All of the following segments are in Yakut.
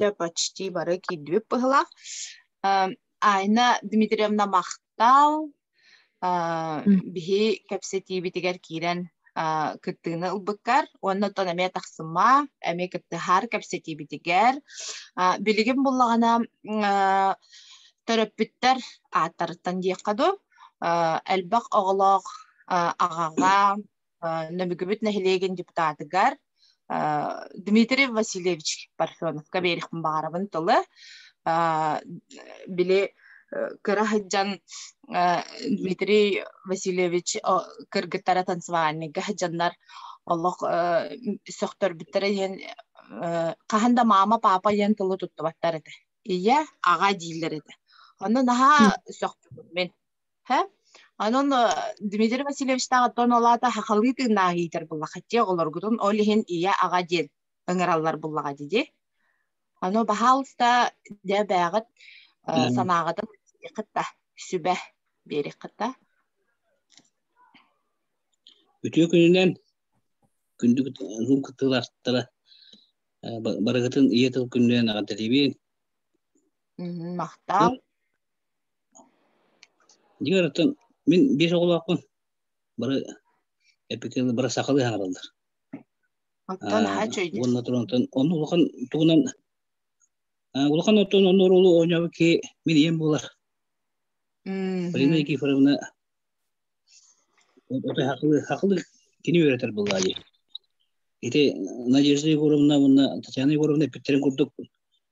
да почти бары киирдибит быһылаах Айна Дмитриевна махтал биһи кэпсэтиибитигэр киирэн кыттыыны ылбыккар уонна оттон эмиэ тахсыма эми кыттыһар кэпсэтиибитигэр билигин буллаҕына төрөппүттэр ааттарыттан диэххэ дуу элбэх оҕолоох аҕаҕа Нөмүгүбүт нэһилиэгин депутатыгар Дмитрий Васильевич Парфенов каберихпын баарабын тылы били кыра сылдьан Дмитрий Васильевич кыргыттара танцевальныйга сылдьаннар олох сөхтөрбүттэрэ иһин хаһан да маама папа диэн тылы туттубаттар этэ ийэ аҕа дииллэр этэ ону наһаа сөхпүтүм мин Һэ? Анон Дмитрий Васильевичтаах оттон олаата хахалыы тыыннаах иитэр буллахаччы оҕолоргутун ол иһин ийэ аҕа диэн ыҥыраллар буллаҕа дии. Аны баһаалыста дээбээҕит санааҕытын кытта сүбэ биэрик кытта. Үтүө күнүнэн күндү кыттыылаахтара барыгытын ийэ тыл күнүнэн аҕардэлиибин. Махтаал. Дьиҥ арыттан мин биир оҕолоохпун. Бары эпикелы бары сахалыы аһараллар. Оттон аһа чөйдүр. Уонна туронтан онно улахан тугунан улахан оттон онно оруолу ойнобу ки мин ийем булар. Полина Никифоровна ота хакылы хакылы кини үйрөтөр буллади. Ити Надежда Егоровна, мына Татьяна Егоровна эппиттерин курдук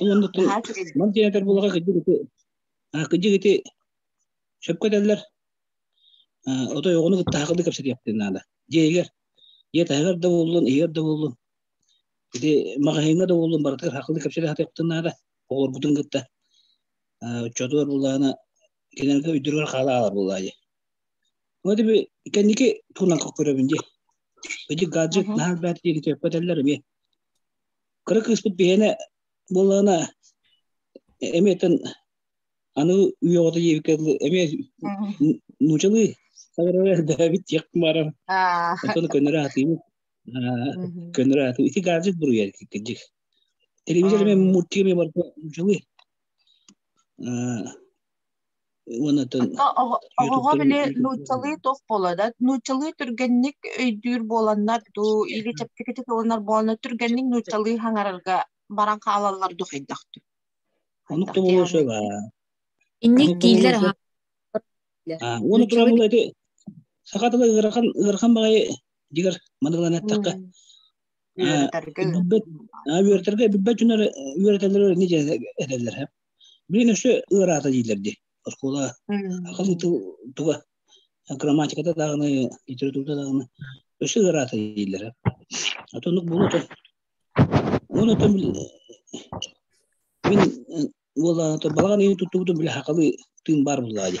Уонна ман диэнэтэр булаха кыдьык ити кыдьык ити сөпкө этэллэр отой оҕону кытта хакылы кэпсэтиэхтин наада. Дьиэгэр, дьиэ таһыгар да буоллун, иһигэр да буоллун. Ити маҕаһыыҥҥа да буоллун барытыгар хакылы кэпсэтэ сатыахтын наада. Оҕолоргутун кытта оччотугар буллаана кинилэргэ өйдөрүгэр хаалаалар буоллаа дии. Ити би кэнники туунан көрөбүн дии. Кыдьык гаджет наһаа бэт диэки төппөтөллөр эмиэ. кыра кыыспыт биһиэнэ буоллаҕына эмиэтэн аны үйэҕото диэбиккэ дылы эмиэ нуучалыы саҕарара дөһөөбүт диэх баарар оттон көннөрө аатыыбыт көннөрө аатыыбыт ити гаджет буруйа кирдик телевизор эмиэ мультик эмиэ барыта нуучалыы оҕоҕо били нууччалыы туох буолада нууччалыы түргэнник өйдүүр буоланнар дуу или чэпчэкитик ылынар буоланнар түргэнник нууччалыы хаҥарарга баран хаалаллар дуу хайдахту онук да болуо сөп инник диилэр уону турабыл эти саха тыла ырахан ырахан баҕайы дигэр манылан эттэххэ үөрэтэргэ бүппэт жүнөр үөрэтэллэр не этэллэр Блин, өссө ыараата диилэр ди. Оскуола ахылыты туга грамматиката даҕаны, литературата даҕаны өссө ыараата диилэр. А то оннук булуото. Оны то мен ол то балаҕан ыйын туттубутум биле хакалы тыын бар буллаа ди.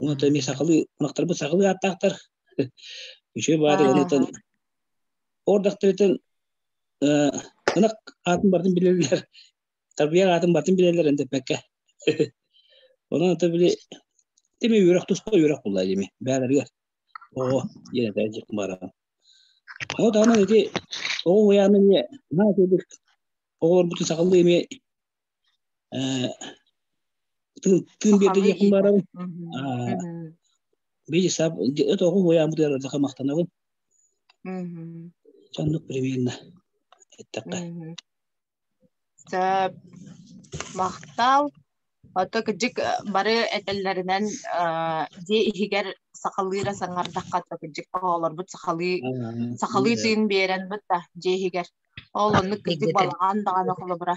Онон эмиэ сахалыы ынахтарбыт сахалыы ааттаахтар. Үчүгэй баадыгыныытын ордахтарытын ынах аатын бартын билэллэр, тарбыйар аатын бартын билэллэр эндэппэккэ. Онон ата били тими үөрөх туска үөрөх булла дими бээлэригэр оҕо диэн этэ дьик баран. Ону таһынан ити оҕо уйааны эмиэ наа курдук оҕолорбутун сахалыы эмиэ Тын берде Яхмаровым. Бейсап, это хуя бутер махтанабын. Чандук прививно. Эттакка. Сап махтал. Ото кыдьык бары этэллэринэн дьиэ иһигэр сахалыыра саҥардахха то кыдьык оҕолорбут сахалыы сахалыы тыын биэрэн бут да дьиэ иһигэр. Ол оннук кыдьык балаҕан даҕаны холобура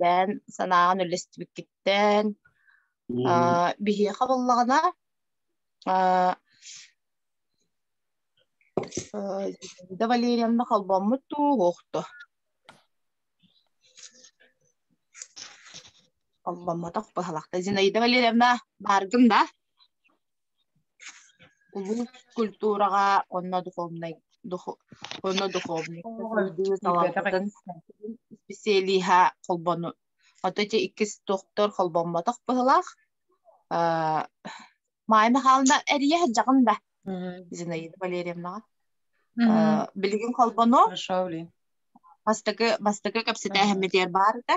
бэйэн санааҕын үллэстибиккиттэн биһиэхэ буллаҕына Зинаида Валерьевна холбоммут дуу, уохто? Холбоммотох быһалахта. Зинаида Валерьевна, бааргын да? улуус культураҕа уонна духовнай уонна духовниктар салааларын исписэлииһэ холбону Ото ити иккис доктор холбоммотох быһылаах Майя Михайловна эрийэ сылдьаҕын да Зинаида Валерьевнаҕа билигин холбону бастакы бастакы кэпсэтээһиммитигэр баар этэ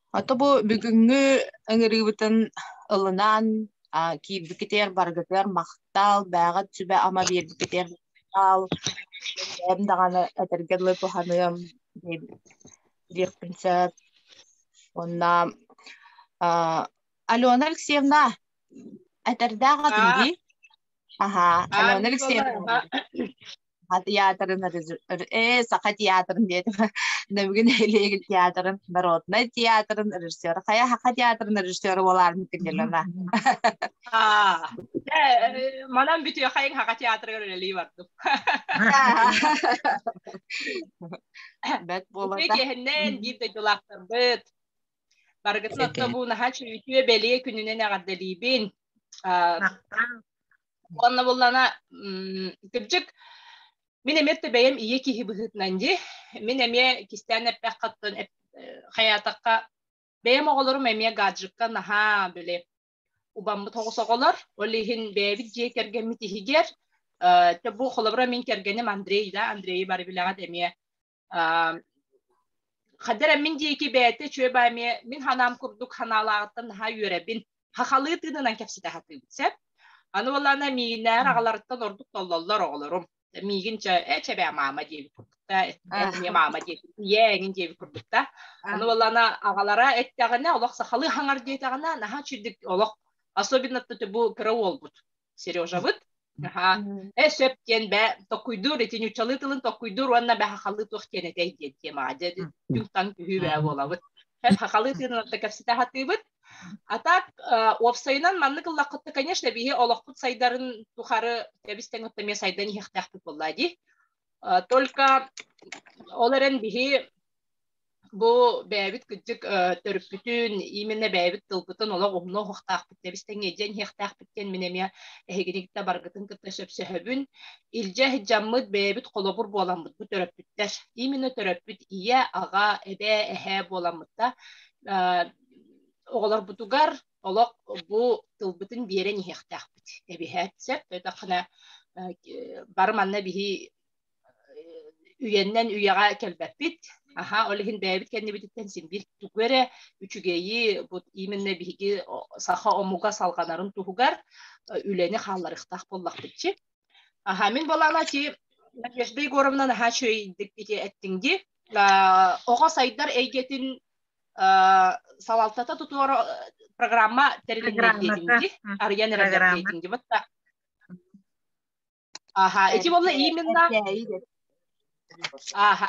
Ото бу бүгүҥҥү ыҥырыыбытын ылынан киирбикитигэр барыгытыгар махтал, бээҕит сүбэ-ама биэрбикитигэр махтал. Бэйэм даҕаны этэргэ дылы туһаныам диэхпин сөп. Уонна Алена Алексеевна, этэрдээх атын дии. Аһаа, Алена Алексеевна. театрын э саха театрын диэтим нөбүгүн нэһилиэгин театрын народнай театрын режиссера хайа саха театрын режиссера буолаармын кэллэлана манан бүтүөхэйин саха театрыгар үлэлии бардым бэт буолата киэһиннэн биир дойдулаахтарбыт барыгытын отто бу наһаа чүүйчүө бэлиэ күнүнэн эҕэрдэлиибин Онно буллана кырдьык мин эмиэ төбөйөм ийэ киһи быһыытынан дии. Мин эмиэ кистээн эппэххаттан хайаатахха бэйэм оҕолорум эмиэ гаджекка наһаа бөлө убаммыт оҕолор ол иһин бэйэбит дьиэ кэргэммит иһигэр бу холобура мин кэргэним Андрей да Андреи бары билэҕит эмиэ Хадыр эмин диэки бэйэтэ чүө баамie мин ханаам курдук ханаалааҕыттан наһаа үөрэбин. Хахалыы тыынынан кэпсэтэ сатыыбын сөп. Аны болана миинээр агаларыттан ордук толлоллор оҕолорум. Миигин чэ ээ чэбээ маама диэбит курдукта, эмиэ маама диэбит, ийээ эҥин диэбит курдукта. Аны болана агалара эттэҕинэ олох сахалыы хаҥар диэтэҕинэ наһаа чудик олох особенно бу кыра уолбут Сережабыт аха э сөп диэн бэ токкуйдуур ити ньуччалыы тылын токкуйдуур уонна бэхахалыы туох диэн этэй диэн тиэмаҕа дьэ дьуҥтан күһүү бээ буолабыт хахалыы тыынан да кэпсэтэ сатыыбыт а так уопсайынан маннык ыллаххытта конечно биһи олохпут сайдарын тухары тэбис тэҥитте эмиэ сайдан иһиэхтээхпит буоллаа дии только ол эрэн биһи Бу бэйэбит кыддык төрүппүтүн, именно бэйэбит тылбытын олох умна уһуктаахпыт тэбис тэҥэ дьэн иһиэхтээхпит диэн мин эмиэ эһигинигитэ баргытын кытта сөпсөһөбүн. Илдьэ иһдьаммыт бэйэбит холобур буоламмыт бу төрөппүттэр. Именно төрөппүт ийэ, аҕа, эбээ, эһээ буоламмыта оҕолорбутугар олох бу тылбытын биэрэн иһиэхтээхпит. Эбиһээт сөп, өтөххүнэ бары манна биһи үйэннэн үйэҕэ кэлбэппит аха ол иһин бэйэбит кэннибититтэн син биир тугу эрэ үчүгэйи бут именно биһиги саха омуга салҕанарын туһугар үлэни хаалларыахтаах буоллахпытчы аха мин болаана ти Надежда Егоровна наһаа үчүгэйдик ити эттиҥ ди оҕо сайдар эйгэтин салалтата тутуора программа тэрилиннир диэтиҥ ди арыйан эрэллэр диэтиҥ ди Ага, ити буолла именно Ага,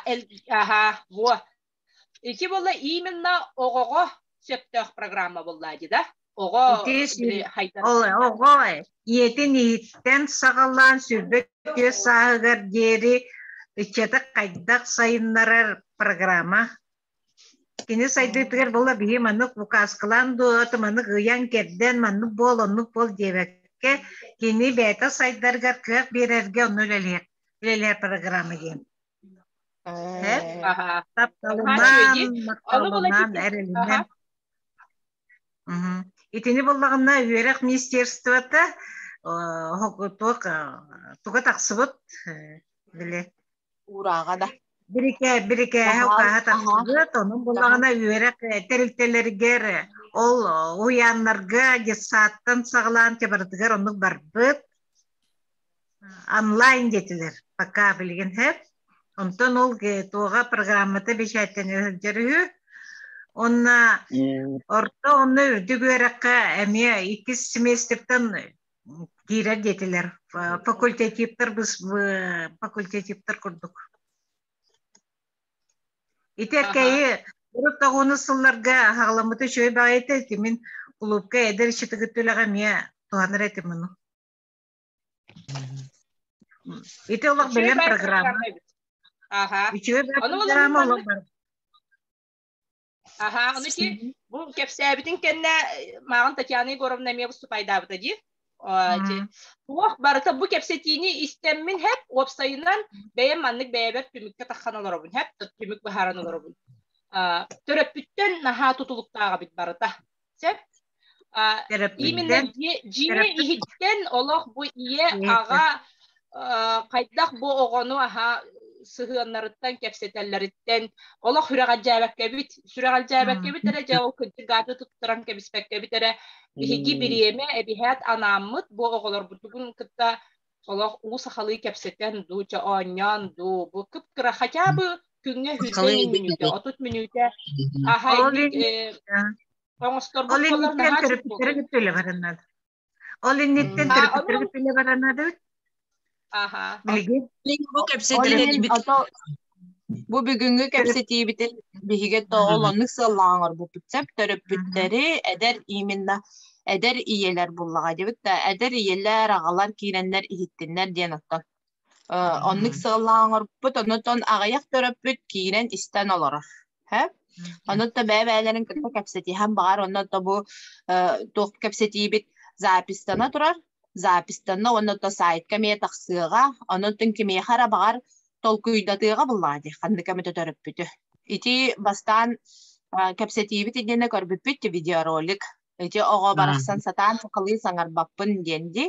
ага, во. Ити буолла именно оҕоҕо сөптөөх программа булла ди да? Оҕо оҕо ийэтин иһиттэн саҕалаан сүрбэ түө сааһыгар диэри ыччаты хайдах сайыннарар программа Кини сайдыытыгар була биһи маннык букааскалаан дуоты маннык ыйан кэрдэн маннык буол оннук буол диэбэккэ кини бэйэтэ сайдаргар кыах биэрэргэ онно үлэлиһэр үлэлиһэр программа диэн. Тапталынан, макталынан, эрэлинэн. Итини буллаҕына үөрэх министерствота туга тахсыбыт били Урааҕана. Бирикэ, бирикээһэ укааһа тахсыбыт, онун булаҕына үөрэх тэрилтэлэригэр, ол уһуйааннарга детсадтан саҕалаан чабарытыгар оннук барбыт. Онлайн диэтилэр, пока билигин хэп. Онтон ол туоҕа программата бэчээттэнэ сылдьар үһү. Онно орто онно үрдүк үөрэххэ эмиэ иккис семестриптан диирэр диэтилэр факультативтарбыз факультативтар курдук ити эркэйи урут тоҕуну сылларга хагаламмыты үчүгэй баҕайыта этимин клубка эдэр ичитигит үлэҕэ эмиэ туһанар этим мұны ити олох білем программа үчүгэй программа олох бар Аха, онуки бу кэпсээбитин кэннэ мааҕын Татьяна Егоровна эмиэ выступайдаабыта дии. Туох барыта бу кэпсэтиини истэммин хэп, уопсайынан бэйэм маннык бэйэбэр түмүккэ таххан олоробун хэп, түмүк быһааран олоробун. Төрөппүттэн наһаа тутулуктааҕа бит барыта. сөп именно дьиэ иһиттэн олох бу ийэ аҕа хайдах бу оҕону аһа сыһыаннарыттан кэпсэтэллэриттэн олох сүрэҕэлдьээбэккэбит сүрэҕэлдьээбэккэбит эрэ дьэ ол кырдьыгааты туттаран кэбиспэккэбит эрэ биһиги бириэмэ эбиһээт анааммыт бу оҕолорбутугун кытта олох уу сахалыы кэпсэтэн дуу чэ оонньоон дуу бу кып-кыра хотя бы күҥҥэ үһүйсэн мүнүүтэ отут мүнүүтэ аһай оҥосторбут буоллар наһаа төрөппүттэрэ кыттыла бараннар ол инниттэн төрөппүттэрэ кыттыла бараннар аха билигин бу кэпсэтэр Бу бүгүҥҥү кэпсэтиибитин биһиги оҕолоннук сыаллаах оҥорбуппут сөп төрөппүттэри эдэр именно эдэр ийэлэр буллаҕа диэбит да эдэр ийэлэр аҕалар киирэннэр иһиттиннэр диэн оттон оннук сыаллаах оҥорбуппут оннуттан аҕыйах төрөппүт киирэн истэн олорор Һэ? Онно бэйэ-бэйэлэрин кытта кэпсэтиһэн баҕар, онно то бу туох кэпсэтиибит запистана турар, запистанна уонна то сайтка эмиэ тахсыаҕа, онон кимиэхэ эрэ баҕар толкуйдатыаҕа буллаҕа дии, ханнык эмит төрөппүтү. Ити бастаан кэпсэтиибит иннинэ көрбүппүт видеоролик Ити оҕо барахсан сатаан сахалыы саҥарбаппын диэн ди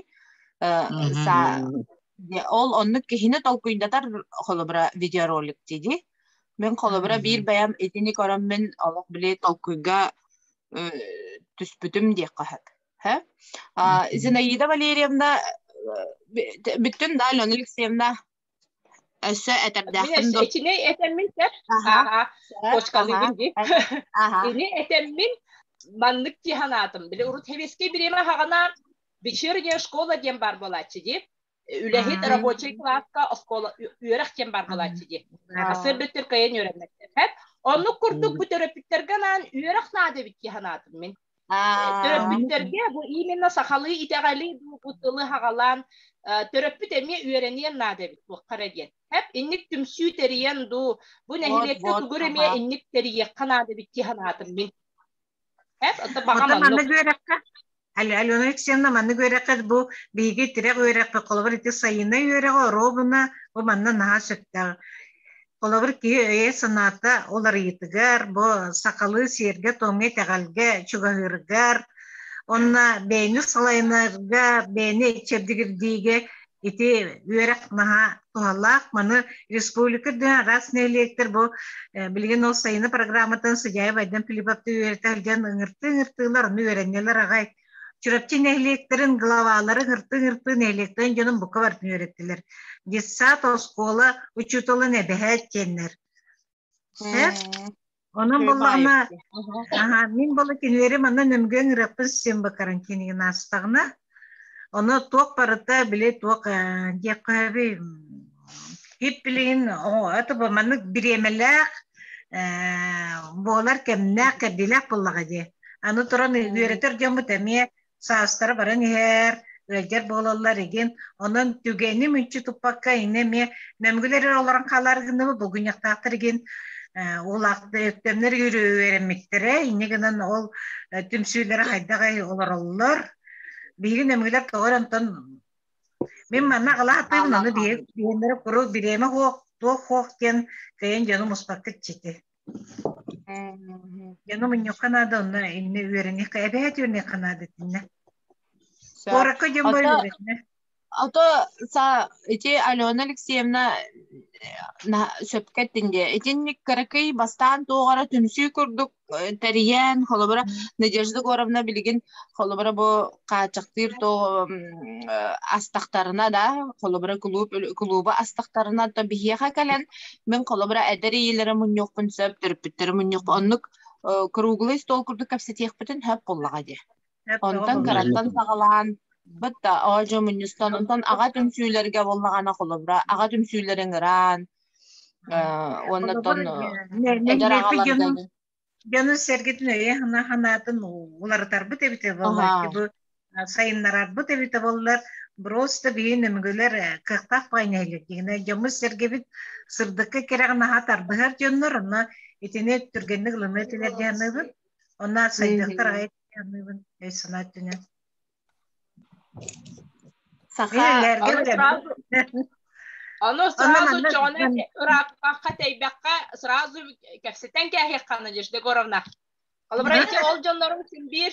ол оннук киһини толкуйдатар холобура видеоролик диди мен холобура биир бэйэм итини көрөн мин олох били толкуйга түспүтүм диэххэ сөп Зинаида Валерьевна бүттүн да Алена Алексеевна Өссө этэрдээхпин дуу? Ичинэй этэммин сөп. Ааха. Кочкалыыбын ди. Ини этэммин маннык ти санаатым. Били урут хевискэй бириэмэ хаҕана вечерняя школа диэн бар буолааччы ди. Үлэһит рабочий класска оскуола үөрэх диэн бар буолааччы ди. Сыр бүттүр кайын үөрэннэттэр. Оннук курдук бу төрөппүттэргэ анаан үөрэх наада бит санаатым мин. Төрөппүттэргэ бу именно сахалыы итэҕэли дуу тылы хагалаан төрөппүт эмиэ үөрэниэн наада эбит туохха эрэ диэн. Хэп инник түмсүү тэрийэн дуу бу нэһилиэккэ тугур эмиэ инник тэрийиэххэ наада эбит дии санаатым мин. Хэп это баҕа маннык үөрэххэ Алена Алексеевна манна үөрэххэ бу биһиги тирэх үөрэххэ холобур ити сайынай үөрэҕи оруобуна бу манна наһаа сөптөөх Холобур, киһи өйө-санаата ол арыйытыгар, бу сахалыы сиэргэ-туомҥа итэҕэлгэ, чугаһыырыгар, онно бэйэни салайынарга, бэйэни чэбдигирдиигэ ити үөрэх наһаа туһалаах. Маны республика үрдүнэн араас нэһилиэктэр бу билигин ол сайыны программатын судья Байден Филипповтуу үөрэтэ сылдьан ыҥыртыы-ыҥыртыылар, ону үөрэннилэр аҕай Чурапчы нэһилиэктэрин главалары хырты-хырты нэһилиэктэрин дьонун бука барытын үөрэттилэр. Детсад, оскуола учууталын эбэһээт киэннэр. Сөп? Онон буоллаҕына, аха, мин бала кинилэри манна нөмгөн ыраппын син бакаран кинигэ наастаҕына, оно туох барыта, били туох диэххэ Ит билигин тобо маннык бириэмэлээх буолар кэмнээх кэрдиилээх буллаҕа дии. Аны туран үөрэтэр дьоммут эмиэ саастара баран иһэр, ыалдьар буолаллар игин. Онон түгэни мүнчү туппакка инэ эмиэ мәмгүлэр олорон хаалар гынны бугуньахтаахтар игин улаахтөмнөр үөрэммиттэрэ инне гынан ол түмсүүлэрэ хайдах олороллор биһигин эмгилер тоҕор онтон Мин манна алааппыйбын аны биһиэннэрэ куру бириэмэ хуох, туох хуох диэн кыйын дьонум успаккыт чити. Дьонум инньэххэ наада онно иннэ үөрэниэххэ эбэһэт үөрэниэххэ наада этиннэ. Куоракка дьон бөлөрөтүнэ. Ото са ити Алена Алексеевна сөпкө этинде. Итинник кыракый бастаан туоҕара түмсүү курдук тэрийэн, холобура Надежда Егоровна билигин холобура бу хааччахтыыр то астахтарына да, холобура кулууп кулуба астахтарына то биһиэхэ кэлэн мен холобура эдэр ийэлэрэ мунньуохпун сөп, төрөппүттэрэ мунньуохпун оннук круглый стол курдук кэпсэтиэхпитин сөп буллаҕа дии. Онтон кыраттан саҕалаан быт да оожо мунньустан онтон аҕа түмсүүлэргэ боллаҕана холобура аҕа түмсүүлэрин ыраан уоннаттон дьону сэргитин өйө санаатын уларытарбыт эбитэ боллар бу сайыннарарбыт эбитэ боллар просто биһин өмгөлөр кыахтаах байнайлар дигине дьоммут сэргэбит сырдыкка кереҕин аха тардыһар дьоннор онно итини түргэнник ылыны этилер дианыбыт онна сайдыктар Ону сразу чоҕону ырааппакка, тэйбэккэ сразу кэпсэтэн кээһиэххэна Деш Дегоровна. Ол братья ол дьоннорум син биир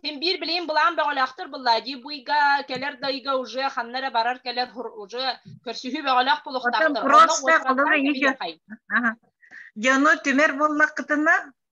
син биир билин былаан бөҕөлөөхтөр быллаа дии буйга кэлэр дайга уже ханнара барар кэлэр уже көрсүһүү бөҕөлөөх булуктаахтар. Просто дьону түмэр буллаххытына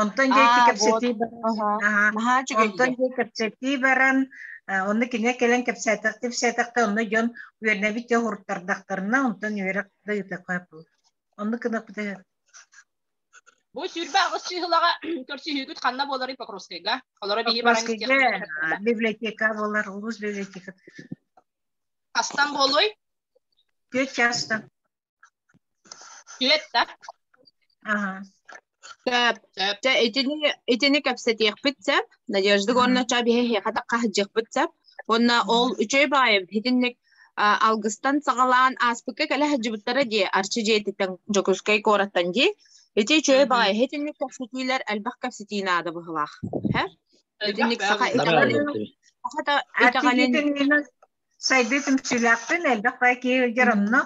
Онтон дьэ ити кэпсэтии баран онтон дьэ кэпсэтии баран онно кинигэ кэлэн кэпсээтэхтэ кэпсээтэхтэ онно дьон үөрнэбит дьэ уһуруттардахтарына онтон үөрэх да ыыта хойпул онну кынаппыта Бу сүрбэх сыһылаға көрсүһүүгүт ханна болары Покровскайга? Олары бии баран библиотека болар, улус библиотека. Астан болой? Күөт частан. Клетта. Ага. Сөп, сөп. Чэ, итини, итини кэпсэтиэхпит сөп. Надежда уонна ча биһиэхэ таххаһыддьыахпыт сөп. Уонна ол үчүгэй баайым итинник алгыстан саҕалаан ааспыкка кэлэ сылдьыбыттара дии Арчы дьиэтиттэн Дьокуускай куораттан дии. Ити үчүгэй баай итинник кэпсэтиилэр элбэх кэпсэтии наада быһылаах. Итинник саха итаҕанын Сайдыы түмсүүлээхпин, элбэх баай киһи илдьэр онно,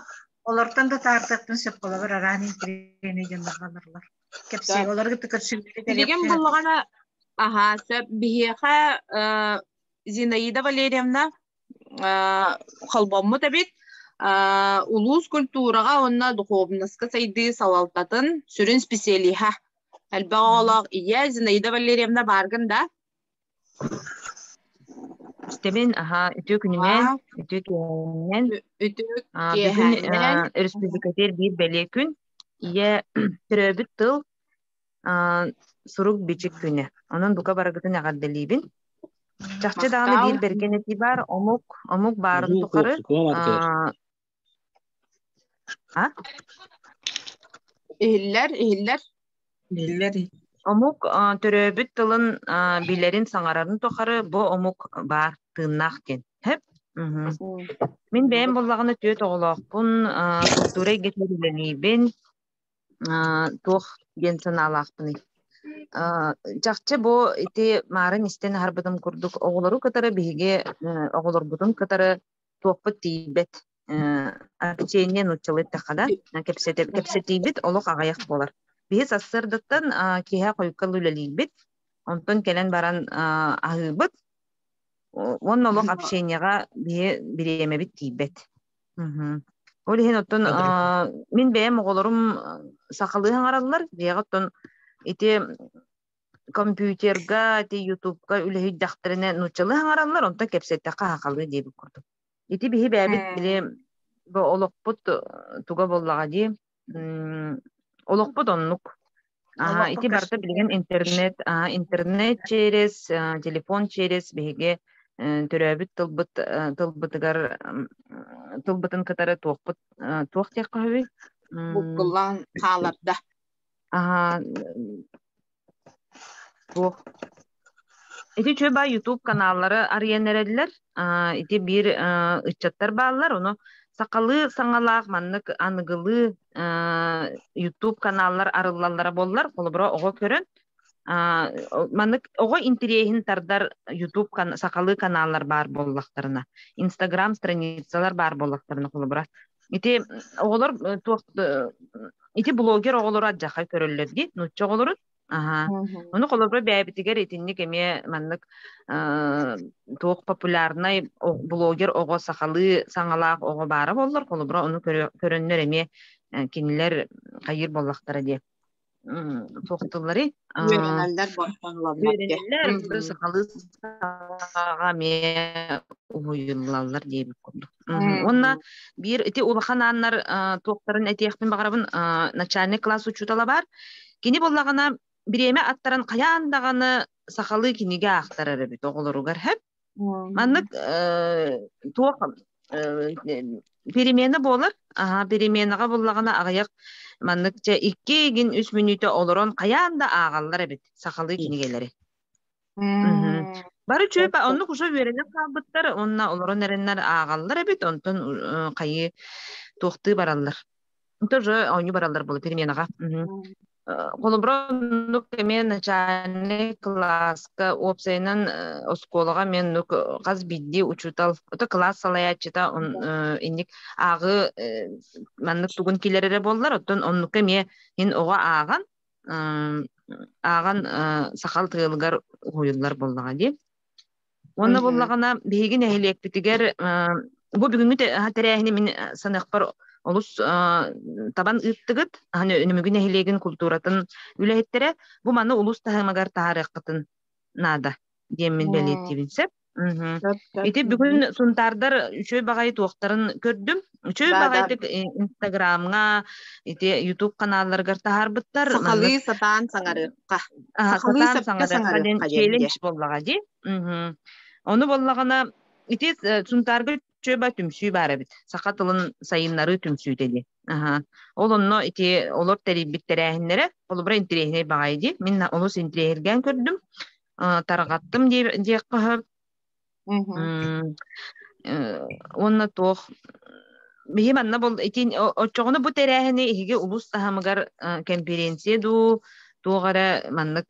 олортон да таартыахтын сөп болобор араан интэриэни дьылларга олорлор. Кэпсиэ, олор гытты көрсүбүтү Билигин буллаҕына, аха, сөп, биһиэхэ Зинаида Валерьевна холбоммут эбит улуус культураҕа уонна духуобунаска сайдыы салалтатын сүрүн специалиһа. Элбэх оҕолоох ийэ Зинаида Валерьевна бааргын да? Истэбин, аhaa, үтүө күнүнэн, Ааа. үтүө киэһэнинэн. Үтүө А, бүгүн киэһэнинэн. а, өрөспүүбүлүкэтигэр биир бэлиэ күн. Ийэ төрөөбүт тыл а, сурук-бичик күнэ. Онон бука барыгытын эҕэрдэлиибин. Чахчы даҕаны биир бэргэн этии баар, омук, омук баарын тухары а, А? Иһиллэр, иһиллэр. Биллэр. Омук а, төрөөбүт тылын а, билэрин саҥарарын тухары бу омук баар тыыннаах диэн. Хэп? Мин бэйэм буллаҕына түөрт оҕолоохпун, а, культура эйгэтигэр үлэлиибин, а, туох диэн санаалаахпыный? А, чахчы бу ити марын истэн аһарбытым курдук оҕолору кытары биһиги э, оҕолорбутун кытары туохпут тиийбэт арбичение нуччалы эттэххэ да кэпсэтиибит олох аҕыйах буолар биһи сарсыардаттан киэһэ хойуккал үлэлиирбит онтон кэлэн баран аһыыбыт уонна олох общенияҕа биһи бириэмэбит тиийбэт ол иһин оттон мин бэйэм оҕолорум сахалыы хаҥараллар дьиэҕэ оттон ити компьютерга, ити ютубка үлэһийдэхтэринэ нууччалыы хаҥараллар, онтон кэпсэттэххэ хаахалыы диэбит курдук. Ити биһи бэйэбит били олохпут туга буоллаҕа дии. Олохпут оннук. Аһа, ити барыта билигин интернет, аһа, интернет через, телефон через биһиги төрөөбүт тылбыт тылбытыгар тылбытын кытары туохпут туох диэх хаһыый? Буккуллан хааларда. Аха, туох Ити үчүгэй YouTube каналлары арыйан эрэллэр. ити биир ыччаттар бааллар. Ону сахалыы саҥалаах маннык аныгылыы YouTube каналлар арыллаллара боллар. Холобура оҕо көрөн маннык оҕо интириэһин тардар YouTube сахалыы каналлар баар буоллахтарына, Instagram страницалар баар буоллахтарына холобура Ити оҕолор туох ити блогер оҕолору адьахха көрөллөр дии нуучча оҕолору аха ону холобура бэйэбитигэр итинник эмиэ маннык туох популярнай блогер оҕо сахалыы саҥалаах оҕо баара буоллар холобура ону көрөннөр эмиэ кинилэр хайыыр буоллахтара диэ соқтыллары үөрэнэллэр үөрэнэллэр сахалыы сахаҕа эмиэ уһуйуллаллар диэбит курдук уонна биир ити улахан ааннар туохтарын этиэхпин баҕарабын начальник класс учуутала баар кини буоллаҕына бириэмэ аттаран хайаан даҕаны сахалыы кинигэ аахтарар эбит оҕолоругар Маннык туох перемена буолар. Аха, переменаҕа буллаҕына аҕыйах маннык чэ икки игин үс мүнүүтэ олорон хайаан да аагаллар эбит сахалыы кинигэлэри. Бары чүөпэ оннук уша үөрэнэн хаалбыттар онна олорон эрэннэр аагаллар эбит онтон хайыы туохтыы бараллар. Тоже ойнуу бараллар бұл переменаға. Холобура, нук эме начальник кылааска уопсайынан оскуолаҕа мен нук хас биирдии учутал ото кылаас салаяччыта он инник ааҕы маннык тугун келерере боллар оттон оннука эмиэ ин оҕо ааҕан ааҕан сахал тыалыгар уһуйуллар боллаҕа дии Уонна буллаҕына биһиги нэһилиэкпитигэр бу бүгүҥҥү тэрээһини мин саныахпар олус табан ыыттыгыт, Нөмүгү нэһилиэгин култууратын үлэһиттэрэ бу маны улус таһымыгар таһаарыаххытын наада диэммин бэлиэтиибин сөп. Ити бүгүн Сунтаардар үчүгэй баҕайы туохтарын көрдүм. Үчүй баҕайытык Инстаграмҥа, ити YouTube каналларыгар таһаарбыттар. Сахалыы сатаан саҥарыахха. Сахалыы саҥарыахха челлендж боллаҕа дии. Ону боллаҕына, ити Сунтаарга чөба түмсүү баар эбит. Саха тылын сайыннарыы түмсүүтэ дии. Ол онно ити олор тэрийбит тэрээһиннэрэ холобура интириэһинэй баҕайы дии. Мин олус интириэһиргээн көрдүм. Тарҕаттым диэххэ уонна туох биһи манна бол итин оччоҕуна бу тэрээһини иһиги улус таһамыгар конференция дуу туох эрэ маннык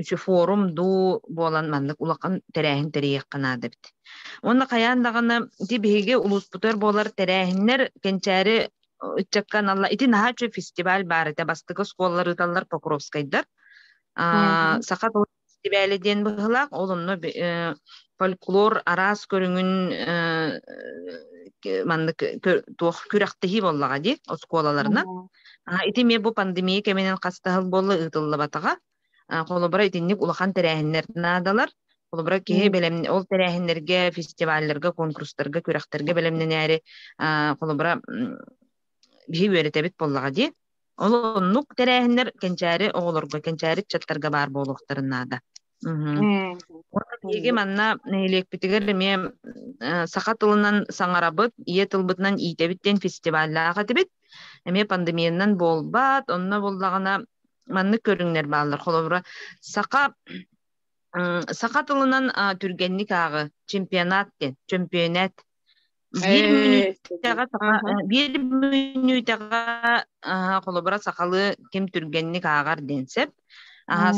үчү форум дуу буолан маннык улахан тэрээһин тэрийиэххэ наада эбит уонна хайаан даҕаны ити биһиги улууспутугар буолар тэрээһиннэр кэнчээри ыччакка аналла ити наһаа үчү фестиваль баар этэ бастакы оскуолалар ыыталлар покровскайдар саха фестивале диэн быһылаах ол онно э, фольклор араас көрүҥүн э, маннык туох күрэхтэһии буоллаҕа дии оскуолаларынан ити эмиэ бу пандемия кэминэн хастаһыл буолла ыытыллыбатаҕа холобура итинник улахан тэрээһиннэр наадалар холобура киһи бэлэм ол тэрээһиннэргэ фестивалларга конкурстарга күрэхтэргэ бэлэмнэнээри холобура биһи үөрэтэбит буоллаҕа дии Ол оннук тэрээһиннэр кэнчээри оҕолорго, кэнчээри ыччаттарга баар буолуохтарын наада. Эһиги манна нэһилиэкпитигэр эмиэ саха тылынан саҥарабыт, ийэ тылбытынан иитэбит диэн фестиваллаах этибит. Эмиэ пандемияннан буолбат, онно буоллаҕына маннык көрүҥнэр бааллар. Холобура, саха саха тылынан түргэнник ааҕы чемпионат диэн, чөмпүйэнэт Биир мүнүүтэҕэ саха биир мүнүүтэҕэ холобура сахалыы ким түргэнник ааҕар диэн сөп.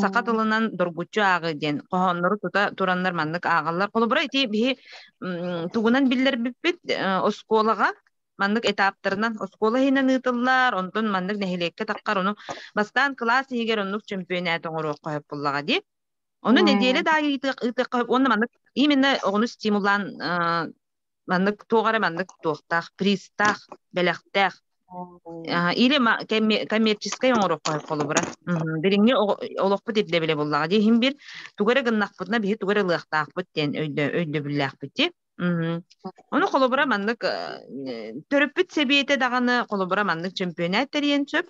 Саха тылынан доргуччу ааҕыы диэн хоһооннору тута тураннар маннык ааҕаллар. Холобура ити биһи тугунан биллэрбиппит оскуолаҕа маннык этаптарынан оскуола иһинэн ыытыллар, онтон маннык нэһилиэккэ таххар ону бастаан кылаас иһигэр оннук чөмпүйэнээти оҥоруохха сөп буллаҕа дии. Ону нэдиэлэ да ыытыахха уонна маннык именно оҕону стимулаан Маннык туох эрэ маннык туохтаах, пристаах, бэлэхтээх. Или коммерческай оҥороххо холобура. Дириҥҥи олохпут ирдэбилэ буллаҕа дии иһин бир тугу эрэ гыннахпытына биһи тугу эрэ ылыахтаахпыт диэн өйдөбүллээхпит дии. Ону холобура маннык төрөппүт сэбиэтэ даҕаны холобура маннык чөмпүйэнэт тэрийэн сөп.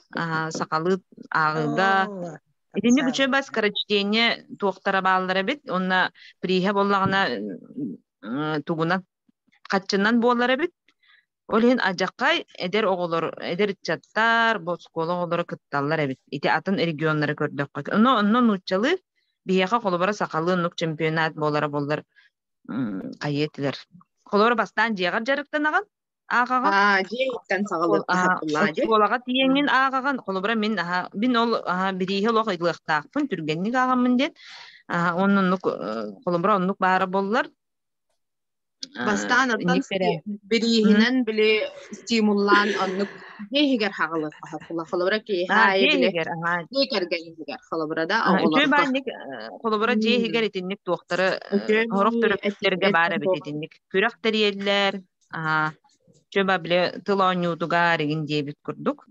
Сахалыы ааҕыыга Итинник үчүгэй бас корочтение туохтара бааллар эбит. Онно прииһэ боллаҕына тугунан хаччынан буолар эбит ол иһин адьаккай эдэр оҕолор эдэр ыччаттар оскуола оҕолоро кытталлар эбит ити атын регионнары көрдөххө онно онно нууччалыы биһиэхэ холобура сахалыы оннук чемпионат буолара боллар хайыы этилэр холобура бастаан дьиэҕэр дьарыктанаҕын Ааҕаҕын? Аа, дьиэттэн саҕалыахха сатыллаа дии. Оскуолаҕа тиийэҥҥин ааҕаҕын. Холобура, мин аһа, мин ол аһа бирииһи олох ыйылыахтаахпын, түргэнник ааҕаммын диэн. Аһа, онно оннук, холобура, оннук баара буоллар. Бастаан оттон бирииһинэн били стимуллаан оннук киһиһигэр хаҕылыахха сатылла. Холобура, киһи киһиһигэр, дьиэ кэргэниһигэр, холобура да оҕолоруттан. Холобура, дьиэһигэр итинник туохтары, сорох төрөппүттэргэ баар эбит итинник. Күрэх тэрийэллэр, Аа, чөба биле тыл оонньуутугар игин диэбит курдук.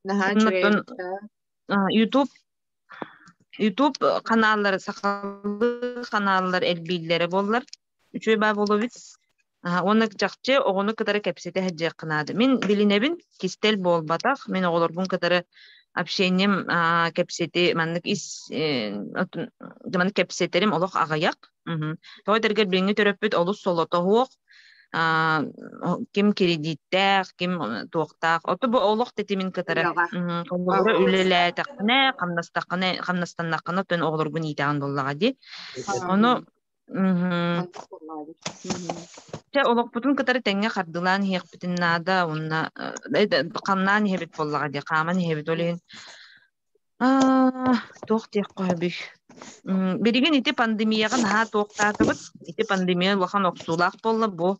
Наһаа YouTube YouTube каналлары сахалыы каналлар элбииллэрэ боллар үчүй бабуловиц уонна чахчы оҕону кытары кэпсете хадьыахқынаады мин билинэбин кистэл буолбатах мен оҕолорбун кытары общением кэпсети маннык ис маннык кэпсетерим олох аҕыйах Той дэргэр билиҥҥи төрөппүт олус солотоһуох, ким кредиттээх, ким туохтаах. Оту бу олох тэтимин кытары оҕолоро үлэлээтэххинэ, хамнастаххына, хамнастаннаххына төн оҕолоргун иитэҕин буоллаҕа дии. Ону Чэ олохпутун кытары тэҥҥэ хардылаан иһиэхпитин наада уонна ханнаан иһэбит буоллаҕа дии, хааман иһэбит ол иһин Аа, туох диэххэ үһүбүй? М, билигин ити пандемияҕа наһаа туохтаатыбыт. Ити пандемия улахан охсуулаах буолла бу.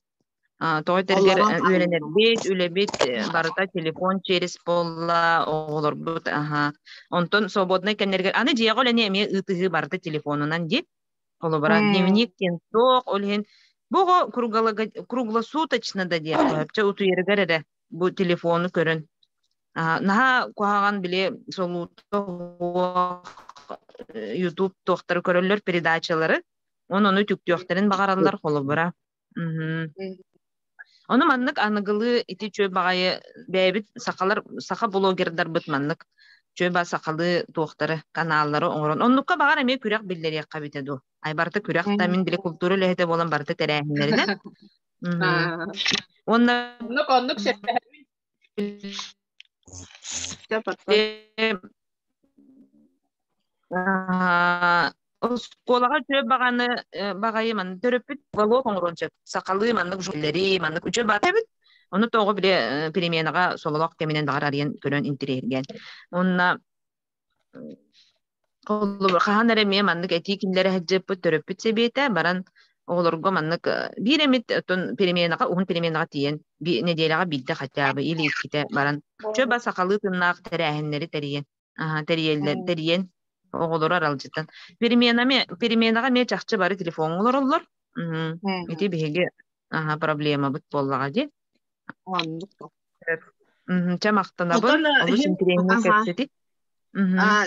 А, тоҕо этэригэр Олоҕун э, үөрэнэрбит, үлэбит э, барыта телефон через буолла, оҕолорбут аха. Онтон свободнай кэмнэригэр аны дьиэҕэ үлэни эмиэ ыытыһыы барыта телефонунан диир. Холобура, М, дневник диэн суох, ол иһин бу оҕо круглого- круглосуточно да диэххэ сөп, утуйарыгар эрэ бу телефону көрөн наһаа куһаҕан били солуута ютуб туохтары көрөллөр передачалары онуну түктүөхтэрин баҕараллар холобура ону маннык аныгылыы ити чүө баҕайы бэйэбит сахалар саха блогердарбыт маннык чүөба сахалыы туохтары каналлары оҥорон оннукка баҕар эмиэ күрэх биллэриэххэ эбитэ дуу Ай барыта күрэх да мин били култуура үлэһитэ буолан барыта тэрээһиннэринэн. Уонна оннук оннук оскуолаҕа үтүө баҕаны баҕайы маннык төрөппүт уголок оҥоруон сөп сахалыы маннык журналлary маннык үтүө баҕа эбит ону тоҕо били переменаҕа сололох кэминэн баҕар арыйан көрөн интириэһиргээн онно хаһан эрэ эмиэ маннык этии кинилэрэ сылдьыппыт төрөппүт сэбиэтэ баран оҕолорго маннык биир эмит отун переменаҕа уһун переменаҕа тиийэн нэдиэлэҕэ биирдэ хотя бы или иккитэ баран чөба сахалыы тыннаах тэрээһиннэри тэрийэн тэрийэллэр тэрийэн оҕолору аралдьытан переменами переменаҕа эмиэ чахчы бары телефоҥҥа олороллор ити биһиги проблемабыт буоллаҕа дии Оннук. Чэ махтанабын. Олус интириэһинэй кэпсэтик.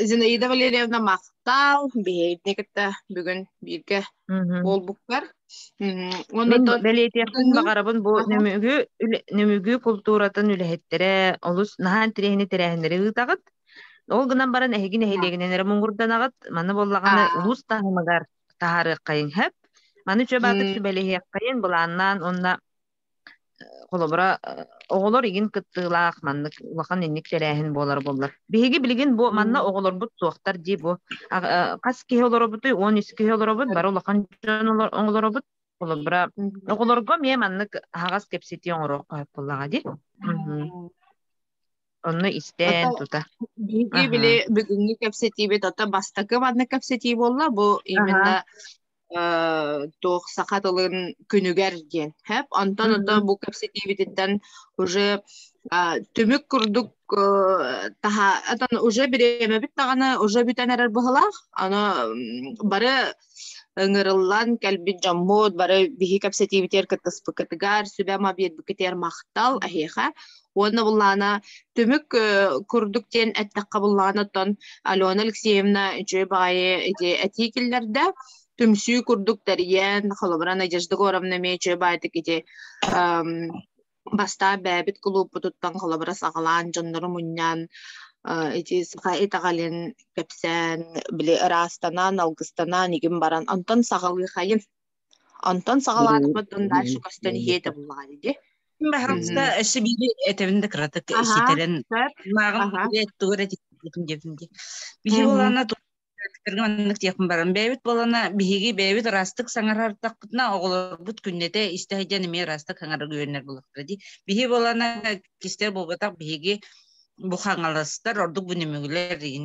Зинаида Валерьевна махтал биһиэдни кытта бүгүн бииргэ буолбуккар. Бэлиэтиэхпин баҕарабын бу нөмүгү култууратын үлэһиттэрэ олус наһаа интириэһинэй тэрээһиннэри ыытаҕыт. Ол гынан баран эһиги нэһилиэгинэн эрэ муҥурданаҕыт. Маны буоллаҕына улуус таһымыгар таһаарыаххайын сөп. Маны үчү баатык сүбэлэһиэххайын былааннаан уонна холобура оҕолор игин кыттыылаах маннык улахан инник тэрээһин буолар боллар биһиги билигин бу манна оҕолорбут суохтар дии бу хас киһи олоробутуй он үс киһи олоробут бары улахан дьон оҥолоробут холобура оҕолорго эмиэ маннык аһаҕас кэпсэтии оҥоруох буоллаҕа дии онно истээн тута биһиги били бүгүҥҥү кэпсэтиибит ото бастакы маннык кэпсэтии буолла бу именно туох саха тылын күнүгэр диэн хэп онтон ото бу кэпсэтиибититтэн уже түмүк курдук таһа отон уже бириэмэбит даҕаны уже бүтэн эрэр быһылаах аны бары ыҥырыллан кэлбит дьоммут бары биһи кэпсэтиибитигэр кыттыспыккытыгар сүбэ ама биэрбиккитигэр махтал эһиэхэ уонна буллаана түмүк курдук диэн эттэххэ буллаана оттон Алена Алексеевна үчүгэй баҕайы ити этии киллэрдэ түмсүү курдук тэрийэн холобура Надежда Горовна эмиэ үчүгэй баайдык ити бастаан бэйэбит кулууппутуттан холобура саҕалаан дьоннору мунньан ити саха итэҕэлин кэпсээн били ыраастанан алгыстанан игин баран онтон саҕалыахайын Онтон саҕалаатахпыт дальше көстөн иһиэ этэ буллаҕа дии. Баһаамыста өссө биири этэбин да кыратык ситэрэн мааҕын тугу эрэ тикпитим диэбитим дии. Биһи болаана туттарга маннык диэхпин баран бэйэбит болаана биһиги бэйэбит ыраастык саҥарартахпытына оҕолорбут күннэтэ истэ сылдьан эмиэ ыраастык саҥарар үһүөннэр булахтара дии. Биһи болаана кистэй буолбатах биһиги бу хаҥаластар ордук бу нөмүгүлэр иин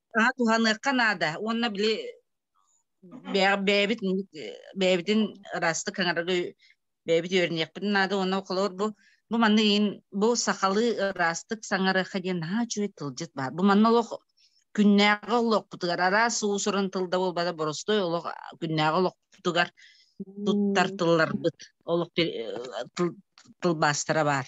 Аа, туһаныахха наада уонна били бэйэбит бэйэбитин ыраастык хаҥарары бэйэбит үөрэниэхпит наада уонна холобур бу бу манна иин бу сахалыы ыраастык саҥарыахха диэн наһаа үчүгэй тылдьыт баар бу манна олох күннээҕи олохпутугар араас уусурун тылда буолбата боростуой олох күннээҕи олохпутугар туттар тылларбыт олох тылбаастара баар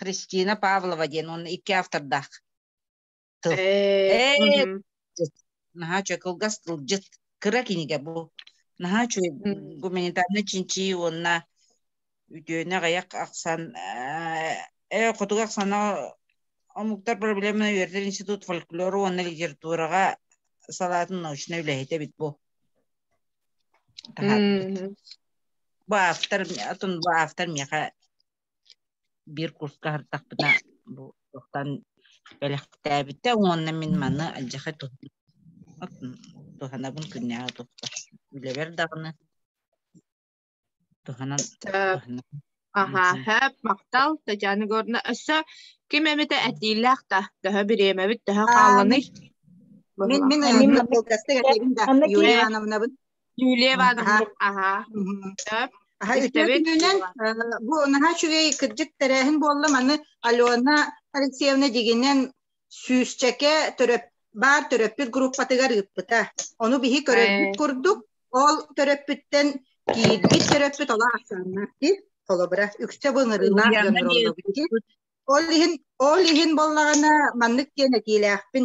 Христина Павлова диэн уонна икки автордаах тыл. Ээ, наһаа үчүгэй кылгас тылдьыт кыра кинигэ бу. Наһаа үчүгэй гуманитарный чинчии уонна үтүөнү аҕыйах ахсан э хотуга ахсана омуктар проблеманы үөрдэр институт фольклора уонна литератураға салатын научна үләһитә бит бу. Бу автор атын бу автор меха биир курска ардахпына бу тохтан бэлэхтээбитэ уонна мин маны алдьахай туһанабын күннээҕи тохто үлэбэр даҕаны туһанан аха хэп махтал татьяна егоровна өссө ким эмитэ этиилээх да төһө бириэмэбит төһө хаалланый мин мин анна болкастык этибин да юрия ивановнабын Юлия Ивановна, аха. Аха, үтүө күнүнэн бу наһаа үчүгэй кырдьык тэрээһин буолла маны Алена Алексеевна дигинэн сүүсчэкэ төрөп баар төрөппүт группатыгар ыыппыта. Ону биһи көрөрбүт курдук, ол төрөппүттэн киирбит төрөппүт ола ахсааннаах дии. Холобура, үксэ былырыылаах гонороллобут Ол иһин, ол иһин боллаҕына маннык диэн этиилээхпин.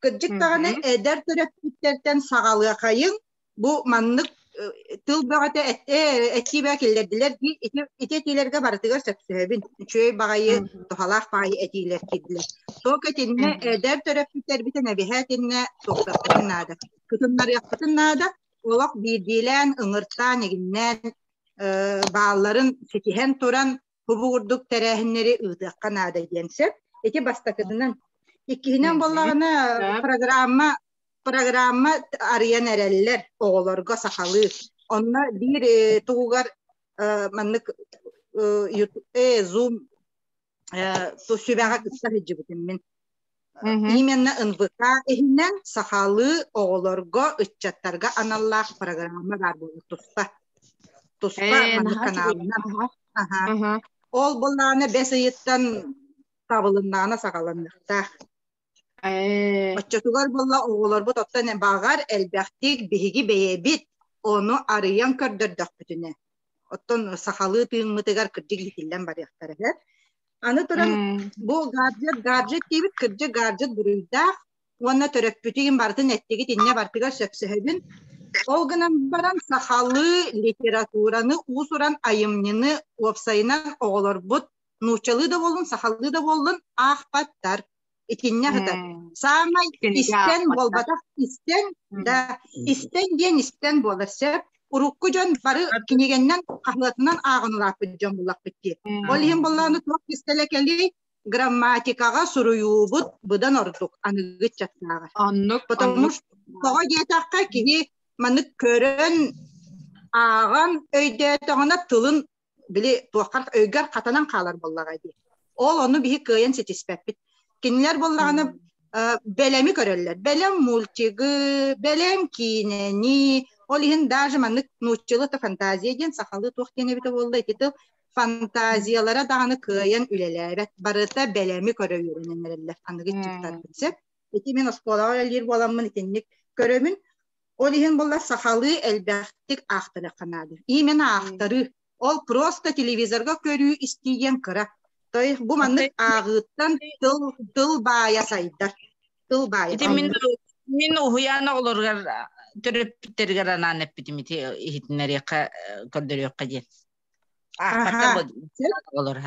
Кырдьык даҕаны эдэр төрөппүттэртэн саҕалыахайын бу маннык тыл бөҕөтө этиибэ киллэрдилэр дии ити этиилэргэ барытыгар сөпсөһөбүн үчүгэй баҕайы туһалаах баайы этиилэр киирдилэр только итиннэ эдэр төрөппүттэрбитин эбиһэ итиннэ тохтоппутун наада кытыннарыахпытын наада олох биирдиилээн ыҥыртаан эгиннээн баалларын ситиһэн туран кубу курдук тэрээһиннэри ыытыахха наада диэн сөп. Ити бастакытынан. Иккиһинэн буоллаҕына программа программа арыйан эрэллэр оҕолорго сахалыы. Онно биир э, тугугар э, маннык э, Zoom сүбэҕэ кытта сылдьыбытым мин. Именно НВК иһинэн сахалыы оҕолорго, ыччаттарга аналлаах программа баар буолар туспа. Туспа маннык каналынан. Ол былаана бэс ыйыттан табылыннаана саҕаланныахтаах. Оччотугар буолла оҕолорбут оттон баҕар элбэхтик биһиги бэйэбит ону арыйан көрдөрдөхпүтүнэ. Оттон сахалыы тыыммытыгар кырдьык иһиллэн барыахтара. Аны туран бу гаджет, гаджет диибит, кырдьык гаджет буруйдаах уонна төрөппүтүгүн барытын эттигит иннэ бартыгар сөпсөһөбүн. Ол гынан баран сахалыы литератураны уусуран айымньыны уопсайынан оҕолорбут нууччалыы да буоллун, сахалыы да буоллун аахпаттар. итиннэ сатар саамай истэн буолбатах истэн да истэн диэн истэн буолар сөп урукку дьон бары кинигэннэн хаһыатынан ааҕан улааппыт дьон буллахпыт дии ол иһин боллоону туох истэлэ кэлий грамматикаҕа суруйуубут быдан ордук аныгы ыччаттааҕар оннук потому что тоҕо диэтэххэ киһи маннык көрөн ааҕан өйдөөтөҕүнэ тылын били туоххар өйгөр хатанан хаалар буоллаҕа дии. Ол ону биһи кыайан ситиспэппит. Кинилэр буоллаҕына бэлэми көрөллөр. Бэлэм мультигы, бэлэм киинэни, ол иһин даже маннык нууччалыы фантазия диэн сахалыы туох диэн эбитэ буолла ити тыл фантазиялара даҕаны кыайан үлэлээбэт барыта бэлэми көрө үөрэнэн эрэллэр аныгы чуттарбын сөп ити мин оскуолаҕа үлэлиир буоламмын итинник көрөмүн Ол иһин буллар сахалыы элбэхтик аахтарыахха наада. Именно аахтарыы. Ол просто телевизорга көрүү-истии диэн кыра. Тойх бу маннык ааҕыыттан тыл, тыл баайа сайдар. Тыл баайа. Ити мин, мин уһуйаана олоругар төрөппүттэригэр анаан эппитим ити иһитиннэриэххэ көрдөрүөххэ диэн. Аахата олор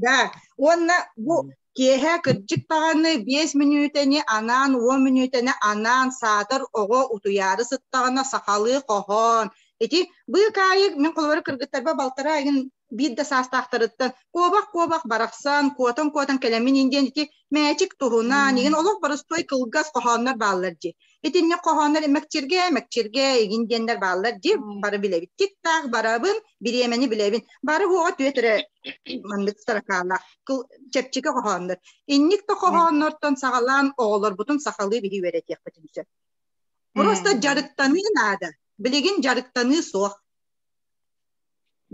Да, уонна бу киэһэ кырдьык даҕаны биэс мүнүүтэни анаан, уон мүнүүтэни анаан саатар оҕо утуйаары сыттаҕына сахалыы хоһоон. Ити быыкаайык мин холобура кыргыттарба балтараа игин биир да саастаахтарыттан куобах-куобах барахсан, куотан-куотан кэлэмин индиэн ити мээчик туһунан, игин олох боростуой кылгас хоһооннор бааллар дии. Итинник хоһооннор мэкчиргэ, мэкчиргэ, игин диэннэр бааллар дии, бары билэбиттик таах, барабын, бириэмэни билэбин. Бары хуоҕа түөтүрэ маннык таракаалаах чэпчики хоһооннор. Инник да хоһооннортон саҕалаан оҕолорбутун сахалыы билии үөрэтиэхпитин сөп. Просто дьарыктаныы наада. Билигин дьарыктаныы суох.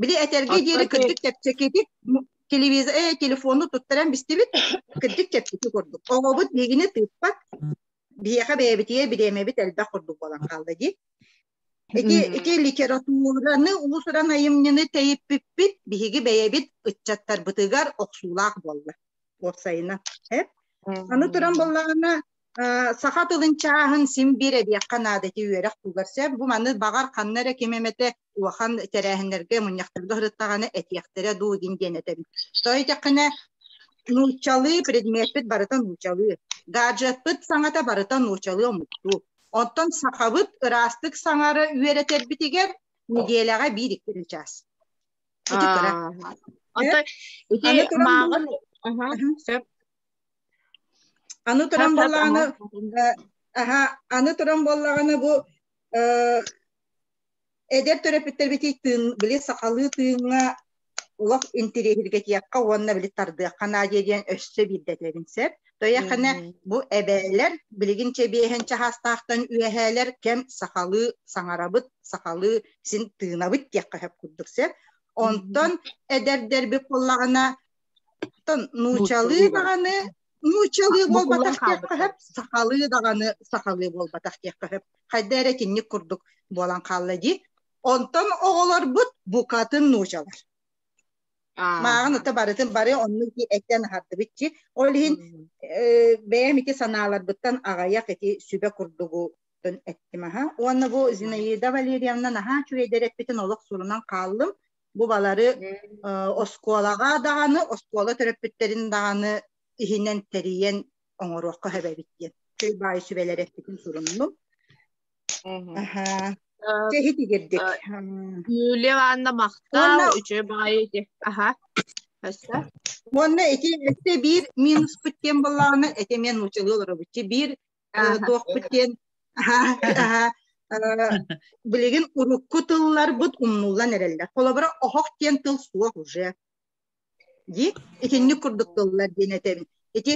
Били этерге диэри кырдык чэпчэкитик телевизор, э, телефону туттаран бистибит, кырдык чэпчэки курдук. Оҕобут биигини тыыппат, биһиэхэ бэйэбитигэр бириэмэбит элбэх курдук буолан хаалла дии. Ити, ити литератураны, уус-уран айымньыны тэйиппиппит, биһиги бэйэбит ыччаттарбытыгар охсуулаах буолла. Уопсайынан. Э? Аны туран боллаҕына, саха тылын чааһын син биир эбиэххэ наада ити үөрэх туугар сөп. Бу маны баҕар ханна эрэ ким эмэтэ улахан тэрээһиннэргэ мунньахтарга сырыттаҕына этиэхтэрэ дуу дин диэн этэбит то этиэххинэ нуучалыы предметпит барыта нуучалыы гаджетпыт саҥата барыта нуучалыы омуктуу оттон сахабыт ыраастык саҥары үөрэтэрбитигэр неделяға биир иккилі час аны туран боллағаны аны туран боллағаны бұл Эдэр төрөппүттэрбитий тыын, били сахалыы тыыҥҥа олох интириэһиргэтиэххэ уонна били тардыахха наадыйа диэн өссө биирдэтэбин сөп. Тойахана бу эбээлэр билигин чэбиэһэн чаһаастаахтан үөһээлэр кэм сахалыы саҥарабыт, сахалыы син тыынабыт диэххэ сөп курдук сөп. Онтон эдэрдэрбит буоллаҕына оттон нуучалыы даҕаны нууччалыы буолбатах диэххэ сөп сахалыы даҕаны сахалыы буолбатах диэххэ сөп хайда эрэ итинник курдук буолан хаалла дии онтон оҕолорбут букатын нуучалар мааҕын ата барытын бары оннук эттэн аһардыбыт чи ол иһин бэйэм ити санааларбыттан аҕайах ити сүбэ курдугу эттим аха уонна бу Зинаида Валерьевна наһаа үчүгэйдэр эппитин олох сурунан хааллым бу балары оскуолаҕа даҕаны, оскуола төрөппүттэрин даҕаны иһинэн тэрийэн оҥоруохха эбэбит диэн чөл баай сүбэлэр эппитин суруннум. Чэһит игирдик. Юлия Ивановна махтал, үчүгэй баайы ити. Аха. Уонна ити эссе биир минуспут тем боллаҕына эти мен нуучалыы олоробуччу. Биир туохпут диэн билигин урукку тылларбыт умнуллан эрэллэр холобура оһох диэн тыл суох уже дии итинник курдук тыллар диэн этэбин ити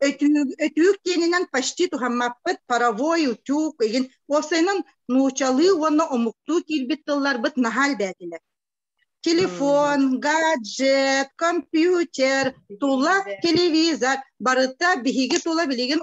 өтүүк өтүүк диэнинэн почти туһаммаппыт паровой утюг игин уопсайынан нуучалыы уонна омуктуу киирбит тылларбыт наһаа элбээтилэр телефон гаджет компьютер тула телевизор барыта биһиги тула билигин